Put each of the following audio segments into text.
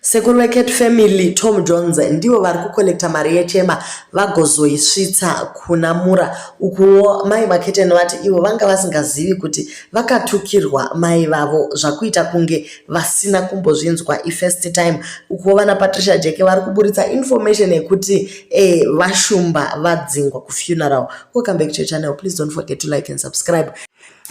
Sekuru veCat Family, Tom Jones, ndivo vari kukollekta mari yechema vagozoisvitsa kuna Mura. Ukuwo mai Maketeni vati ivo vanga vasingazivi kuti vakatukirwa mai vavo zvakuita kunge vasina kumbozvinzwa ifirst time. Ukuwo vana Patricia Jeke vari kuburitsa information yekuti eh, vashumba vadzingwa kufuneral. Welcome back to your channel. Please don't forget to like and subscribe.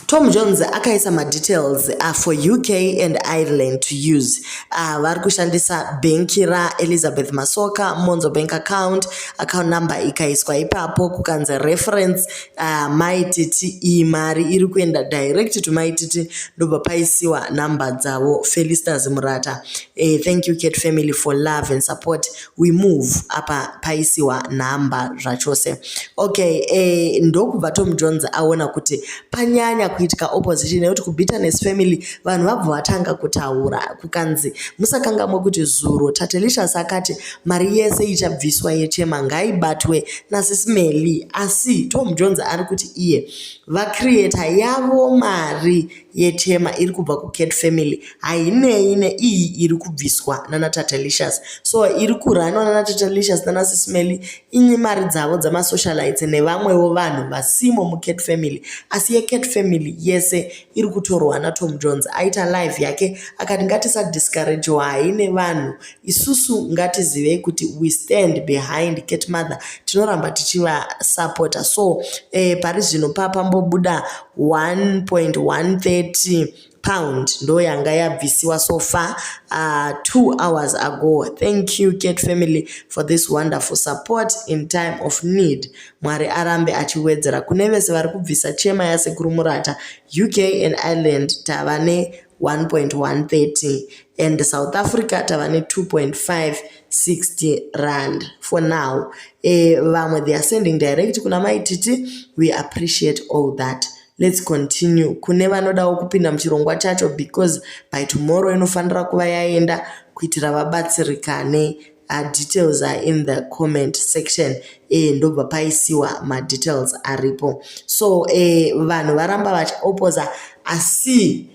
Tom Jones akaisa madetails uh, for UK and Ireland to use uh, vari kushandisa bhenki raElizabeth Masoka Monzo bank account account number ikaiswa ipapo kukanzi reference uh, maititi iyi mari iri kuenda direct to maititi ndobva paisiwa number dzavo Felistas Murata uh, thank you Kate family for love and support we move apa paisiwa nhamba zvachose okay eh, ndokubva tom jones aona kuti panyanya kuitika opposition nekuti kubitterness family vanhu vabva vatanga kutaura kukanzi musakangamwe kuti zuro tatelicious akati mari yese ichabviswa yechema ngaibatwe nasisimeli asi tom jones ari kuti iye vacreator yavo mari yetema iri kubva kucat family hainei neiyi iri kubviswa nanatatelicious so iri kurhanwa nanatatelicious nanasismely inye mari dzavo dzamasocialites nevamwewo vanhu vasimo mucat family asi yecat family yese iri kutorwa natom jones aita live yake akati ngatisadiscouragewa haine vanhu Isusu ngatizivei kuti we stand behind cat mother tinoramba tichivasapota so eh, pari zvino papambobuda 1.130 pound ndo yanga yabvisiwa so far uh, two hours ago thank you cat family for this wonderful support in time of need mwari arambe achiwedzera kune vese vari kubvisa chema yasekuru murata uk and ireland tava ne 1.130 and south africa tava ne2.5 60 rand for now e, vamwe they are sending direct kuna maititi we appreciate all that let's continue kune vanodawo kupinda muchirongwa chacho because by tomorrow inofanira kuva yaenda kuitira vabatsirikane uh, details are in the comment section eh, ndobva paisiwa madetails aripo so eh, vanhu varamba vachiopposa asi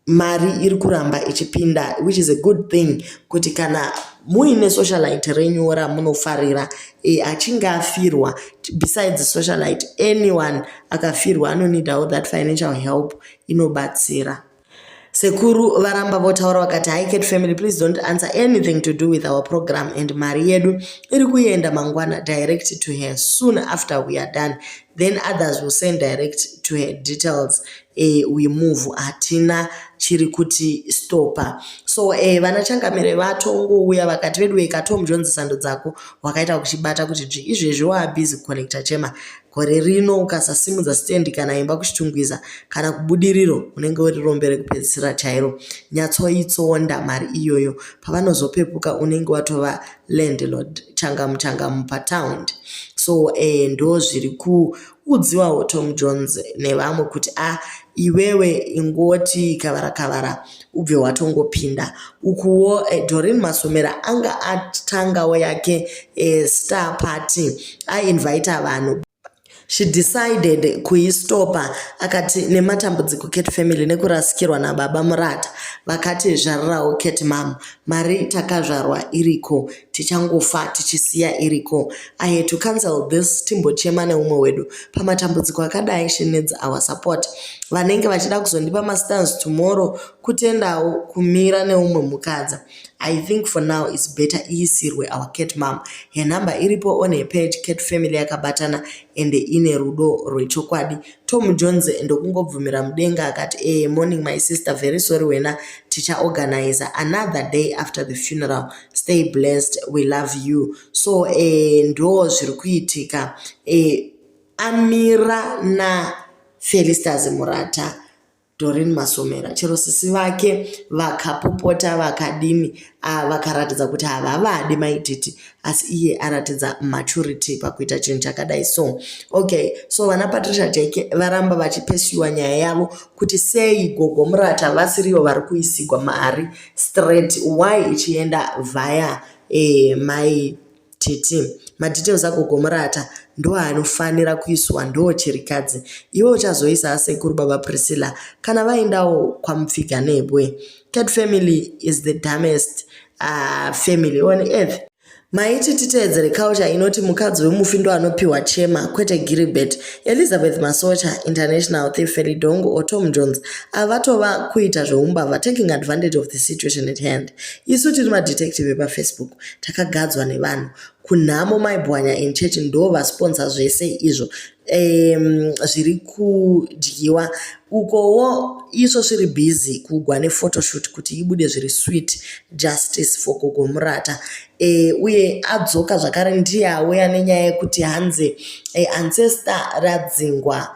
mari iri kuramba ichipinda which is a good thing kuti kana muine socialite renyu ramunofarira e, achinge afirwa besides socialite anyone akafirwa anonidawo that financial help inobatsira sekuru varamba votaura vakati hicat family please don't answer anything to do with our program and mari yedu iri kuenda mangwana direct to her soon after we are done then others will send direct to her details eh, we move hatina chiri kuti stopa so eh, vana changamire vatongouya vakati veduwe katom jones sando dzako wakaita kuchibata kuti dzvi izvezvi waabhizi kuconnecta chema gore rino ukasasimudza stendi kana imba kuchitungwiza kana kubudiriro unenge uri rombe rekupedzisira chairo nyatsoitsonda mari iyoyo pavanozopepuka unenge watova landlord changamu changamu pataundi so eh, ndo zviri ku udziwawo Tom Jones nevamwe kuti a ah, iwewe ingoti kavara kavara ubve watongopinda ukuwo eh, Doreen Masomera anga atangawo yake eh, star party ainvite vanhu she decided kuistopa akati nematambudziko cat family nekurasikirwa nababa murata vakati zvarirawo cat mam mari takazvarwa iriko tichangofa tichisiya iriko i had to cancel this timbochema neumwe wedu pamatambudziko akadai she needs our support vanenge vachida kuzondipa mastans tomorrow kutendawo kumira neumwe mukadzi i think for now its better iisirwe our cat mam her number iripo on her page cat family yakabatana ende ine rudo rwechokwadi tom jones ndokungobvumira mudenga akati ee morning my sister very sorry wena tichaorganiza another day after the funeral stay blessed we love you so eh, ndo zviri kuitika eh, amira na felistas murata dorin masomera chero sisi vake vakapopota vakadini ah, vakaratidza kuti havavadi maititi asi iye aratidza maturity pakuita chinhu chakadai so okay so vana patricia jake varamba vachipesiwa nyaya yavo kuti sei gogo murata vasirivo vari kuisigwa mari straight why ichienda via eh, mai titi madetails agogomurata ndo anofanira kuiswa ndo chirikadzi iwe uchazoisa asekuru baba priscilla kana vaendawo kwamupfiga nebwe cat family is the damest uh, family on earth Maiti titeedzere culture inoti mukadzi wemufi ndo anopiwa chema kwete Gilbert. Elizabeth Masocha, International Thief Felidongo or Tom Jones ava vatova kuita zveumbavha taking advantage of the situation at hand. Isu tiri madetective epaFacebook takagadzwa nevanhu. Kunhamo maibwanya in church ndo vasponsor zvese izvo um, zviri kudyiwa ukowo iso sviri busy kugwa nephotoshoot kuti ibude zviri sweet justice for gogo murata e, uye adzoka zvakare ndiye auya nenyaya yekuti hanzi e, ancestor radzingwa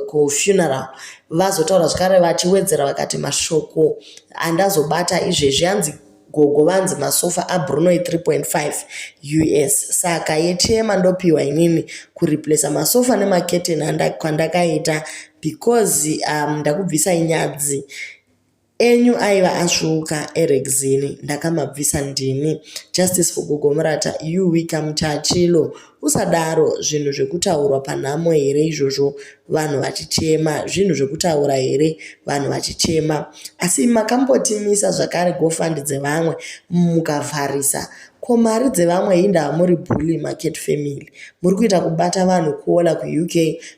kufuneral vazotaura zvakare vachiwedzera vakati mashoko andazobata izvezvi hanzi Gogo vanzi masofa aBruno e 3.5 us saka yechema ndopiwa inini kureplacer masofa nemacurtain kwandakaita because um, ndakubvisa inyadzi enyu aiva asvuuka erexini ndakamabvisa ndini justice for gogo murata you wika muchachilo Usadaro zvinhu zvekutaurwa panhamo here izvozvo vanhu vachichema zvinhu zvekutaura here vanhu vachichema asi makambotimisa zvakare gofund dzevamwe mukavharisa ko mari dzevamwe hindava muri bully market family muri kuita kubata vanhu kuola kuuk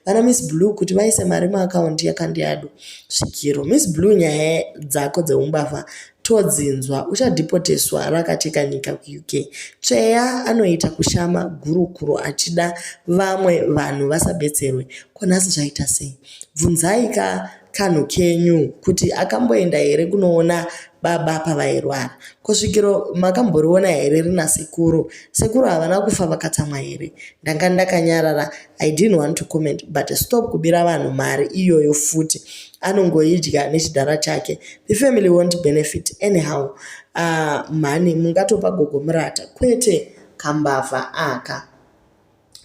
vana miss blue kuti vaise mari muakaunti yakandiyadu svikiro miss blue nyaya dzako dzeumbavha Todzinzwa uchadhipoteswa rakateka nyika kuUK. Tsveya anoita kushama gurukuro achida vamwe vanhu vasabetserwe. Ko nhasi zvaita sei? Bvunzai ka kanhu kenyu kuti akamboenda here kunoona baba pavairwara. Ko svikiro makamboriona here rina sekuru? Sekuru havana kufa vakatsamwa here? Ndanga ndakanyarara. I didn't want to comment but stop kubira vanhu mari iyoyo futi. anongoidya nechidhara chake the family won't benefit anyhow uh, mhani mungatopa gogo murata kwete kambavha aka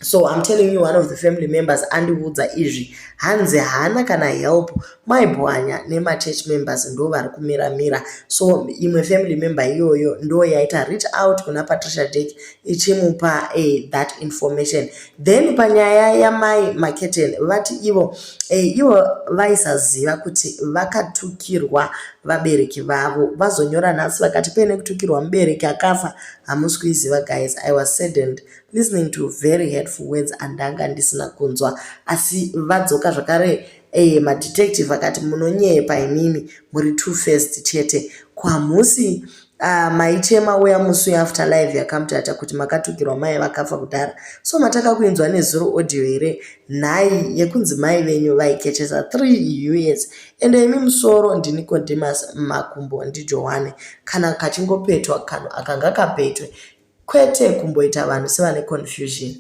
so i'm telling you one of the family members andiudza izvi hanzi haana kana help maibwanya nemachurch members ndo vari kumiramira so imwe family member iyoyo ndo yaita reach out kuna patricia dek ichimupa a eh, that information Then panyaya yamai Maketeni vati ivo eh, ivo vaisaziva kuti vakatukirwa vabereki vavo vazonyora nhasi vakati pene kutukirwa mubereki akafa hamusi kuiziva guys i was saddened listening to very hurtful words andanga ndisina kunzwa asi vadzoka zvakare eh, madetective akati munonyepa imimi muri two first chete kwamusi Ah, maichema uya musi uya after live yakamutata kuti makatukirwa mai vakafa kudhara so mataka kuinzwa nezuro audio here nhai yekunzi mai venyu vaikechesa three us ende imi musoro ndini condimas makumbo ndijohane kana kachingopetwa kanhu akanga kapetwe kwete kumboita vanhu sevane confusion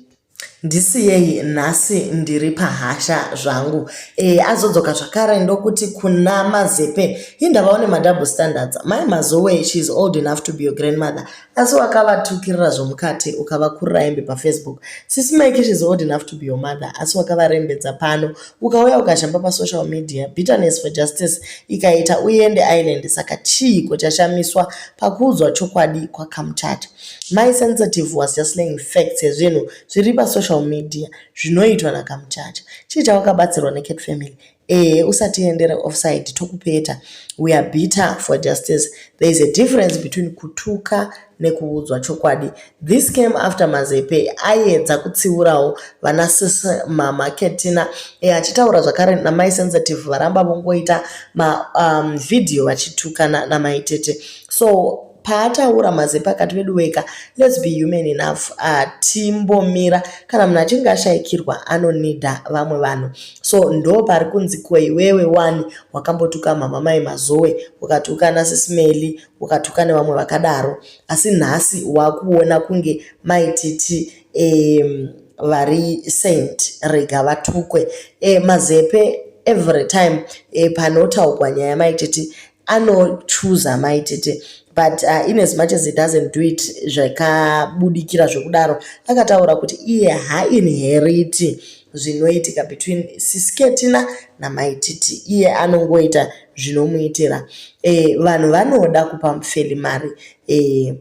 Ndisiyei nhasi ndiri pahasha zvangu. E, azodzoka zvakare ndokuti kuna Mazepe, hindava une madouble standards. Mai Mazowe, she is old enough to be your grandmother. Asi wakavatukirira zvomukati ukavakurira hembe paFacebook. Sisi Mike, she is old enough to be your mother. Asi wakavarembedza pano. Ukauya ukazhamba pasocial media. Bitterness for justice ikaita uende island. Saka chiiko chashamiswa pakuudzwa chokwadi kwaKamchata? My sensitive was just laying facts yezvinhu zviri pa social media zvinoitwa na Kamuchacha. Chii chawakabatsirwa ne Cat family? Ehe usatiendere offside tokupeta. We are bitter for justice. There is a difference between kutuka nekuudzwa chokwadi. This came after Mazepe ayedza kutsiurawo vana sis mama Ketina e achitaura zvakare na my sensitive varamba vongoita ma um, video vachitukana na maitete. So paataura mazepa akati veduweka let's be human enough hatimbomira kana munhu achinge ashaikirwa anonida vamwe vanhu so ndo pari kunzi ko iwewe wani wakambotuka mama mai mazowe ukatuka nasismeli ukatuka nevamwe vakadaro asi nhasi wakuona kunge maititi um, vari saint rega vatukwe e, mazepe every time e, panotaugwa nyaya maititi anochuza mai tete but uh, in as much as he doesn't do it zvakabudikira zvekudaro akataura kuti iye hainheriti zvinoitika between sisketina namai titi iye anongoita zvinomuitira e, vanhu vanoda kupa mufeli mari e,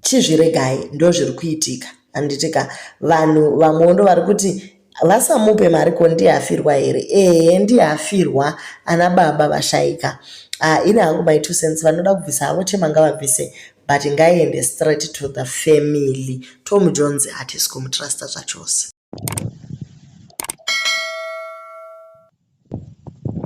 chizviregai ndozviri kuitika handitika vanhu vamwewo ndo vari kuti vasamupe mari ko ndiye afirwa here ehe ndiye afirwa ana baba vashaika uh, ini hangu my two cents vanoda kubvisa havo chema ngavabvise but ngaiende straight to the family tom jones hatisi kumutrusta zvachose